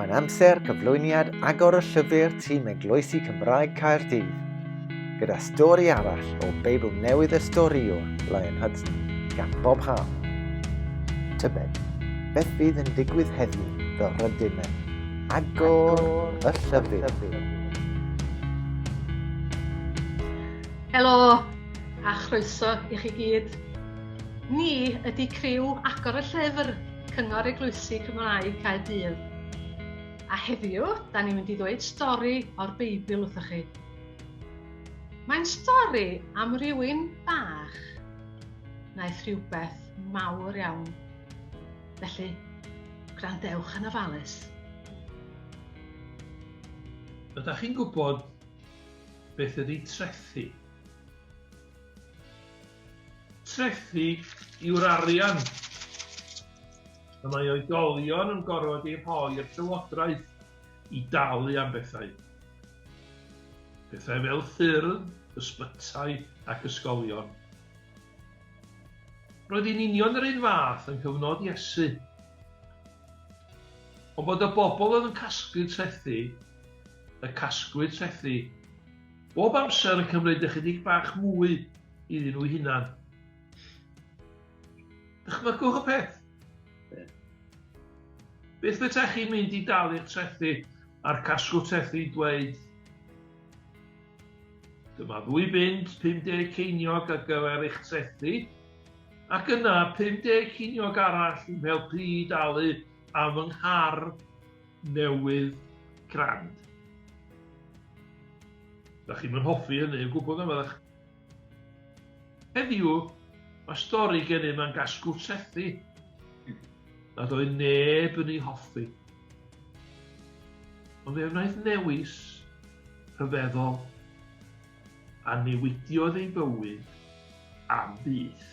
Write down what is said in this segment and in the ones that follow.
Mae'n amser cyflwyniad agor y llyfr tîm Eglwysi Cymraeg Caerdydd, gyda stori arall o Beibl Newydd y Storïwr, Lion Hudson, gan Bob Hall. Tybed, beth bydd yn digwydd heddiw fel rydym yn agor y llyfr? Helo, a chroeso i chi gyd. Ni ydy criw agor y llyfr Cyngor Eglwysi Cymraeg Caerdydd. A heddiw, da ni'n mynd i ddweud stori o'r Beibl wrthych chi. Mae'n stori am rywun bach. Naeth rhywbeth mawr iawn. Felly, gwrandewch yn ofalus. Ydych chi'n gwybod beth ydy trethi? Trethi yw'r arian y mae oedolion yn gorfod ei rhoi i'r llywodraeth i dalu am bethau. Pethau fel ffyrdd, ysbytai ac ysgolion. Roedd hi'n union yr un fath yng nghyfnod Iesu. Ond bod y bobl oedd yn casglu trethi, y casglu trethi. Bob amser yn cymryd ychydig bach mwy iddyn nhw'u hunan. Dychmygwch y peth. Beth fetach chi'n mynd i dalu'r trethi a'r casgwr trethi dweud Dyma ddwy bunt 50 ceiniog ar gyfer eich trethi, ac yna 50 ceiniog arall yn helpu i dalu am fy nghar newydd grand. Da chi'n mynd hoffi hynny, yn gwybod yma ddech. Heddiw, mae stori gen i mae'n gasgw trethi. Nad oedd neb yn ei hoffi. Ond fe wnaeth newis rhyfeddol a newidiodd ei bywyd am byth.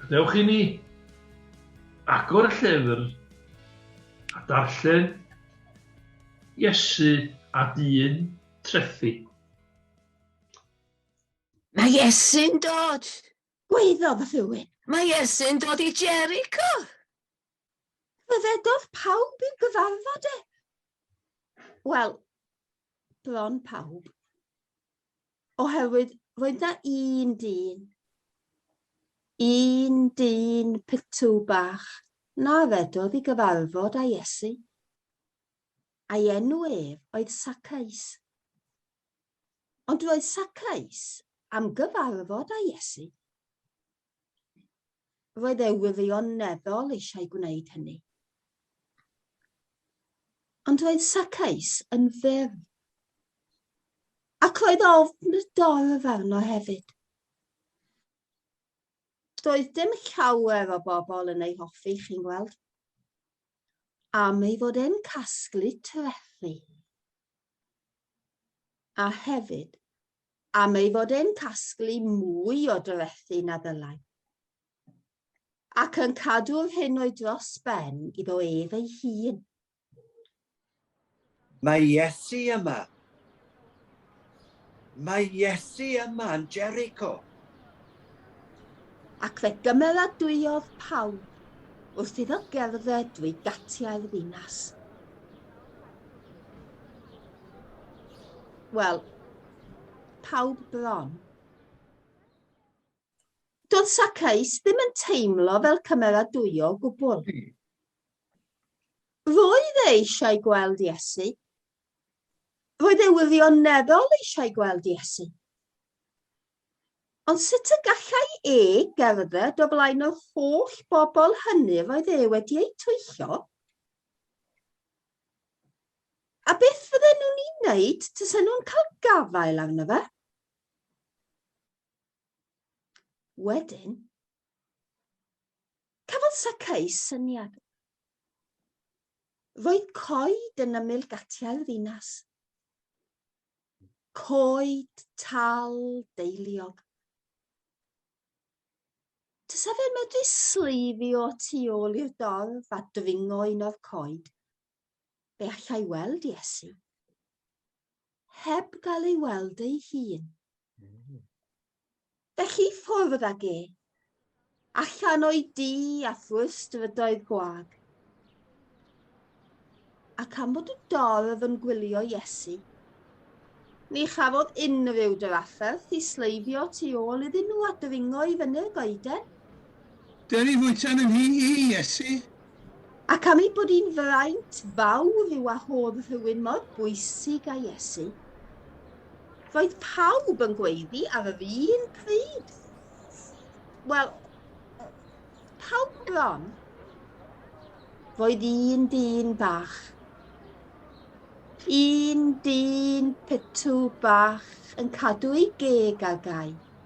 Gadewch i ni agor y llyfr a darllen Iesu a dyn trethi. Mae Iesu'n dod! Gwaeddodd y Fywyd. Mae Iesu'n dod i Jericho! Rhyfeddodd pawb i'w gyfarfod e. Wel, bron pawb. Oherwydd roedd na un dyn, un dyn pitw bach na redodd i gyfarfod a Iesu. A'i enw ef oedd Sacais. Ond roedd Sacais am gyfarfod a Iesu. Roedd ei wirioneddol eisiau gwneud hynny. Ond roedd Sacais yn fyr. Ac roedd ofn y dorf arno hefyd. Doedd dim llawer o bobl yn ei hoffi, chi'n gweld. Am ei fod e'n casglu trethi. A hefyd, am ei fod e'n casglu mwy o dorethi na ddylai, ac yn cadw'r hyn o'i dros ben iddo ef ei hun. Mae Iesu yma! Mae Iesu yma yn Jericho! Ac fe gymeradwyodd pawb wrth iddo gerdded drwy gatiau'r ddinas. Wel, pawb bron. Doedd Sacaeus ddim yn teimlo fel cymeradwyo o gwbl. Hmm. Roedd e eisiau gweld Iesu. Roedd e wirioneddol eisiau gweld Iesu. Ond sut y gallai e gerdded o flaen yr holl bobl hynny yr oedd e wedi eu twyllo? A beth fydden nhw'n ei wneud tasen nhw'n cael gafael arno fe? Wedyn, cafodd Sacaeus syniad. Roedd coed yn ymyl gatiau'r ddinas. Coed tal deiliog. Tysa fe medru sleifio tu ôl i'r dorf a dringo un o'r coed. Fe allai weld Iesu. Heb gael ei weld ei hun. Felly ffwrdd ag e. Allan o'i dŷ a thrwy'r strydoedd gwag. Ac am bod y dorf yn gwylio Iesu, ni chafodd unrhyw drafferth i sleifio tu ôl iddyn nhw a dringo i fyny'r goeden. Dyri fwyta yn nhŷ i, Iesu. Ac am ei bod hi'n fraint fawr i wahodd rhywun mor bwysig a Iesu, roedd pawb yn gweiddi ar yr un pryd. Wel, pawb bron. Roedd un dyn bach un dyn pitw bach yn cadw ei geg ar gau.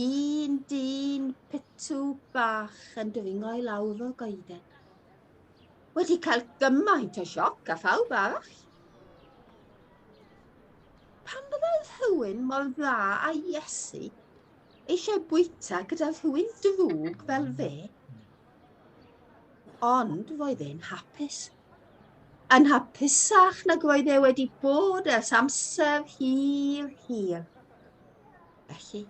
Un dyn pitw bach yn dwyngo i lawr o'r goeden. Wedi cael gymaint o sioc a phawb arall. Pan byddai rhywun mor dda a Iesu eisiau bwyta gyda rhywun drwg fel fe, ond roedd e'n hapus. Yn hapusach nag roedd e wedi bod ers amser hir, hir. Felly,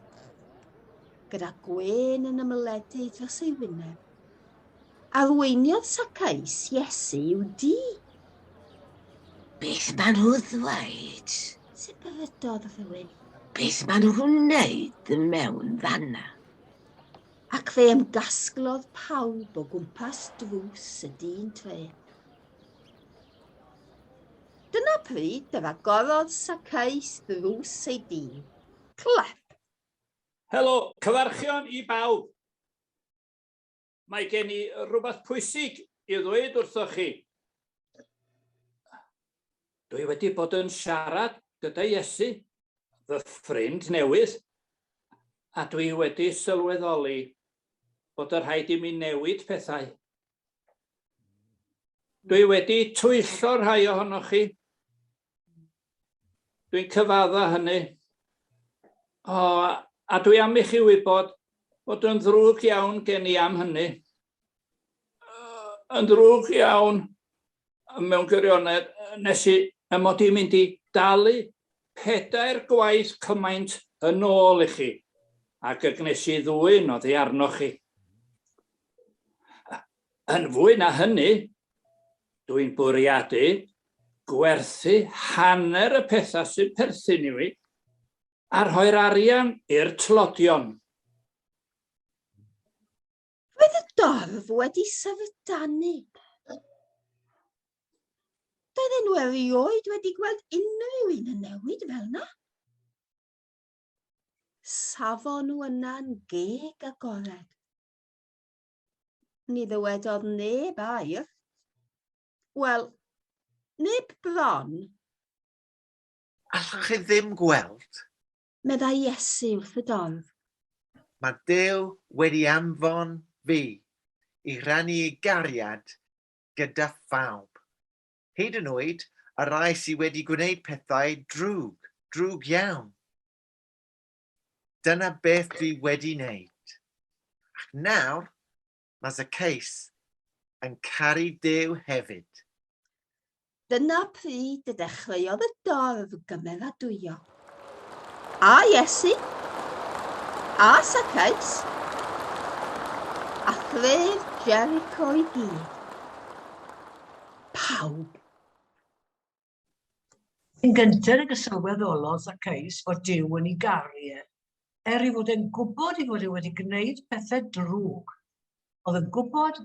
gyda gwên yn ymyledu dros ei wyneb, arweiniodd Sacais Iesu i'w di. Beth maen nhw ddweud? Sibrydodd rhywun. Beth maen nhw'n wneud yn mewn fanna? Ac fe ymgasglodd pawb o gwmpas drws y dyn tre. Dyna pryd yr agorodd Saceus ddrws ei dîn. Clap. Helo, cyfarchion i bawb. Mae gen i rhywbeth pwysig i ddweud wrthoch chi. Dwi wedi bod yn siarad gyda Iesu, fy ffrind newydd, a dwi wedi sylweddoli bod y rhaid i mi newid pethau. Dwi wedi twyllo rhai ohonoch chi. Dwi'n cyfadda hynny. O, a dwi am i chi wybod bod yn ddrwg iawn gen i am hynny. Yn ddrwg iawn. mewn gwirionedd, nes i ym mod i'n mynd i dalu pedair gwaith cymaint yn ôl i chi, ac y gwnes i ddwyn oddi arnoch chi. Yn fwy na hynny, dwi'n bwriadu gwerthu hanner y pethau sy'n perthyn i fi a rhoi'r arian i'r tlodion. Roedd y dorf wedi syfrdanu. Doedd enw erioed wedi gweld unrhyw un yn newid fel yna. Safon nhw yna'n geg agored. Ni ddywedodd neb air. Wel, neb bron. Allwch chi ddim gweld meddai Iesu wrth y dorf. Mae Duw wedi anfon fi i rannu ei gariad gyda phawb, hyd yn oed y rai sydd wedi gwneud pethau drwg, drwg iawn. Dyna beth dwi wedi wneud. Ac nawr, Mae Zacchaeus yn caru Duw hefyd. Dyna pryd y dechreuodd y dorf gymeradwyo. A Iesu, a Zacchaeus, a thref Jericho i gyd. Pawb. Yn gynted ag y sylweddolodd Zaccaeus fod Duw yn ei garu e, er ei fod e'n gwybod ei fod e wedi gwneud pethau drwg. Oedd yn gwybod,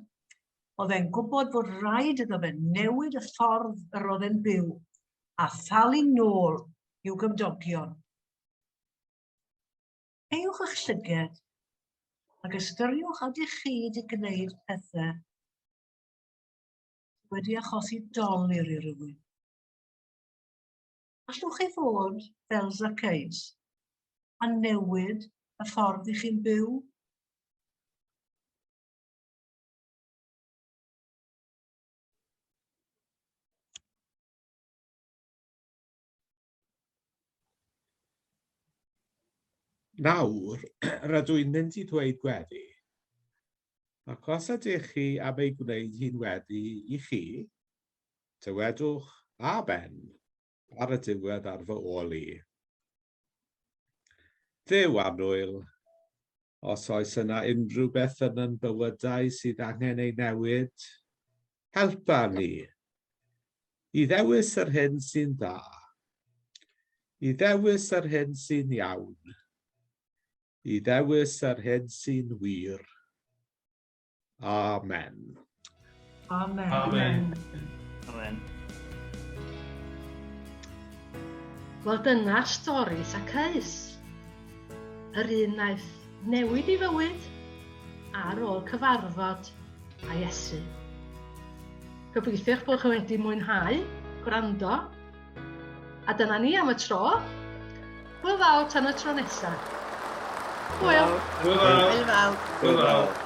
oedd e'n gwybod fod rhaid iddo fe newid y ffordd yr oedd e'n byw a thalu nôl i'w gymdogion. Eiwch eich llyged ac ystyriwch ydych chi wedi gwneud pethau wedi achosi dolur i rywun. Allwch chi fod fel Zacchaeus a newid y ffordd i chi'n byw? Nawr, rydw i'n mynd i ddweud gweddi. Ac os ydych chi am ei gwneud hi'n weddi i chi, dywedwch amen ar y diwedd ar fy ôl i. Dduw annwyl, Os oes yna unrhyw beth yn yn bywydau sydd angen ei newid, helpa ni i ddewis yr hyn sy'n dda, i ddewis yr hyn sy'n iawn, i ddewis yr hyn sy'n wir. Amen. Amen. Amen. Amen. Wel dyna stori Sacaus. Yr un naeth newid i fywyd ar ôl cyfarfod a Iesu. Gobeithio'ch bod chi wedi mwynhau gwrando A dyna ni am y tro. Hwyl fawr tan y tro nesa. Hwyl. Hwyl fawr. Hwyl fawr. Hwyl fawr.